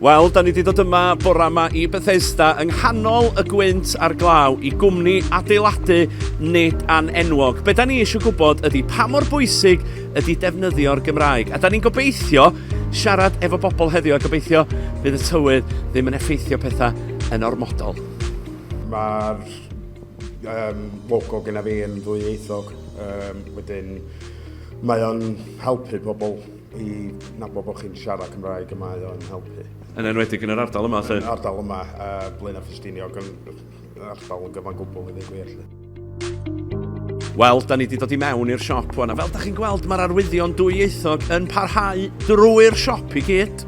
Wel, da ni wedi dod yma bore yma i Bethesda yng nghanol y gwynt a'r glaw i gwmni adeiladu nid an enwog. Be da ni eisiau gwybod ydy pa mor bwysig ydy defnyddio'r Gymraeg. A da ni'n gobeithio siarad efo bobl heddiw a gobeithio bydd y tywydd ddim yn effeithio pethau yn ormodol. Mae'r Um, logo gyda fi yn ddwyieithog, um, wedyn mae o'n helpu pobl i nabod bod chi'n siarad Cymraeg y mae o'n helpu. Yn enwedig yn yr ardal yma, lle? Yn yr ardal yma, uh, Blaen a Ffestiniog, yn ardal yn gyfan gwbl i ddweud gwir, lle. Wel, da ni wedi dod i mewn i'r siop hwn, a fel da chi'n gweld, mae'r arwyddion dwyieithog yn parhau drwy'r siop i gyd.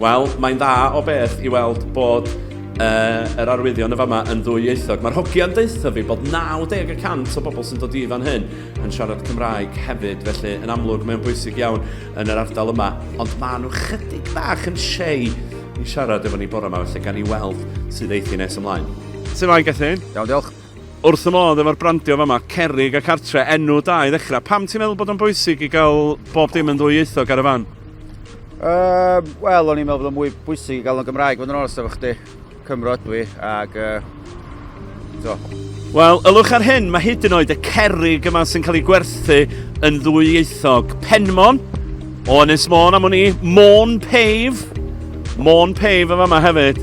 Wel, mae'n dda o beth i weld bod uh, yr arwyddion y fama yn ddwy ieithog. Mae'r hogiau'n deutha fi bod 90 y cant o bobl sy'n dod i fan hyn yn siarad Cymraeg hefyd, felly yn amlwg mae'n bwysig iawn yn yr ardal yma, ond maen nhw chydig bach yn shei i siarad efo ni bore yma, felly gan i weld sydd eithi nes ymlaen. Sut mae'n Gethin? Iawn, diolch. Wrth fy modd efo'r brandio fama, Cerrig a Cartre, enw da i ddechrau. Pam ti'n meddwl bod o'n bwysig i gael bob dim yn ddwyieithog ar y fan? Um, Wel, o'n i'n meddwl bod o'n mwy bwysig i gael o'n Gymraeg, fod yn olas efo chdi. Cymro ydw i, ac... Uh, so. Wel, ylwch ar hyn, mae hyd yn oed y cerrig yma sy'n cael ei gwerthu yn ddwyieithog. Penmon, o Ynys Môn am o'n i, Môn Pave, Môn Pave yma hefyd.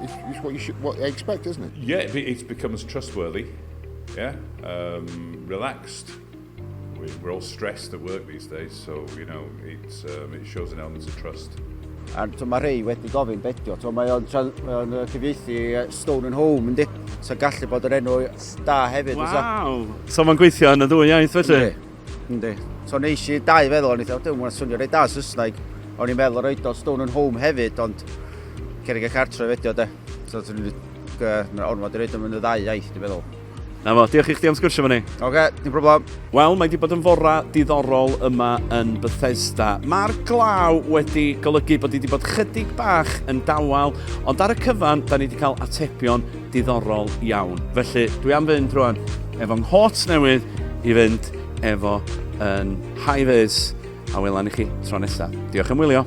It's, it's what you should, what you expect, isn't it? Yeah, it, it becomes trustworthy. Yeah, um, relaxed. We, we're all stressed at work these days, so you know it's um, it shows an element of trust. A to mae rhai wedi gofyn bedio, to mae o'n uh, cyfieithu uh, Stone and Home, ynddi? So gallu bod yr enw da hefyd. Waw! So mae'n gweithio yn y ddwy iaith felly? Yndi. So neis i dau feddwl, o'n i dweud, dwi'n swnio rei da Saesneg. O'n i'n meddwl roed o Stone and Home hefyd, ond cerig y cartref edio de. So dwi'n mynd ormod i roed o'n mynd y ddau iaith, dwi'n meddwl. Na fo, diolch i chdi am sgwrsio fo ni. Oce, okay, dim problem. Wel, mae wedi bod yn fora diddorol yma yn Bethesda. Mae'r glaw wedi golygu bod wedi bod chydig bach yn dawel, ond ar y cyfan, da ni wedi cael atebion Diddorol iawn. Felly, dwi am fynd rwan efo nghot newydd i fynd efo yn high vis a welan i chi tro nesa. Diolch am wylio.